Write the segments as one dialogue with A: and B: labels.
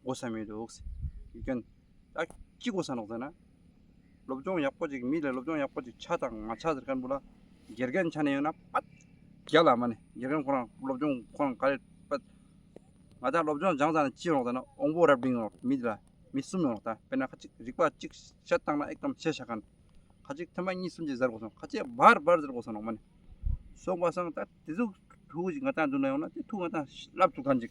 A: སྒོ་ཟྭ་མེད་འདུག། སྐྱོན། ཅི་སྒོ་ཟྭ་འདུག་ཟེར་ན། སློབ་སྦྱོང་ཡག་པོ་ཅིག་མི་ལ་སློབ་སྦྱོང་ཡག་པོ་ཅིག་ཆ་དང་མ་ཆ་ཟེར་ཁར་འབུ་ལ། དགེ་རྒན་ཆ་ནས་ཡོད་ན་པད། རྒྱ་ལ་མ་ནི་དགེ་རྒན་ཁོ་རང་སློབ་སྦྱོང་ཁོ་རང་ག་རེ་པད། ང་ཅག་སློབ་སྦྱོང་སྦྱངས་ཙང་ནས་ཅི་ཡོང་ཟེར་ན་ཨོང་པོ་རབ་འབྲིང་ཡོང་མི་དེ་ལ་མི་གསུམ་ཡོང་ད་དཔེར་ན་ཁ་ཅིག་རིག་པ་ཅིག་བཤད་བཏང་ན་ཨེ་ཀམ་བཤད་བཞག་གནང། ཁ་ཅིག་ཐེངས་མ་གཉིས་གསུམ་ཅིག་ཟེར་དགོས་སོང་ཁ་ཅིག་བར་བར་ཟེར་དགོས་སོང་ནང་མ་ནི། སོང་བ་སང་ད་དེ་ཚོ་ཐུགས་ཅིག་ང་ཅག་མདུན་ན་ཡོང་ན་དེ་ཐུགས་ང་ཅག་བསླབ་ཚུགས་ཐམས་ཅད།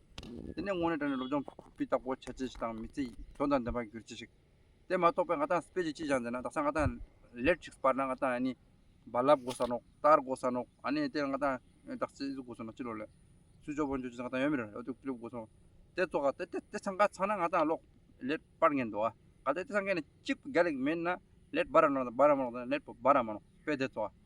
A: དེ་ནས་དངོས་གནས་དྲ་ནས་སློབ་སྦྱོང་སྤུས་དག་པོ་བྱ་བྱེད་ཅིག་དང་མི་ཚེ་དོན་དང་ལྡན་པར་འགྱུར་བྱེད་ཅིག་དེ་མ་རྟོགས་པའི་ང་དང་སྤེལ་བྱེད་ཅིག་ཀྱང་མཛད་ན་རྡ་སར་ང་དང་ལེར་ཅིག་སྤར་ན་ང་དང་ཨ་ནི་རྦ་རླབས་སྒོ་ས་ནོག་ལྟར་སྒོ་ས་ནོག་ཨ་ནི་དེར་ང་དང་ཨེ་རྟགས་ཚེ་གཟུགས་སྒོ་ས་ནོག་ཅི་ལོག་ལས་སུ་ཅོག་པོ་འཇོག་བྱེད་ང་དང་ཡོད་མེད་རེ་རེ་དུག་སྤྲིན་སྒོ་ས་ནོག་དེ་ཚོ་ག་དེ་དེ་ཚང་ག་ཚང་ན་ང་དང་ལོག་ལེར་སྤར་ངེས་འདུག་ག་དེ་དེ་ཚང་ག་ནས་གཅིག་པུ་རྒྱ་ལེགས་མེད་ན་ལེར་རྦ་ར་ནོག་དང་རྦ་ར་མ་ནོག་དང་ལེར་རྦ་ར་མ་ནོག་དཔེ་དེ་ཚོ་ག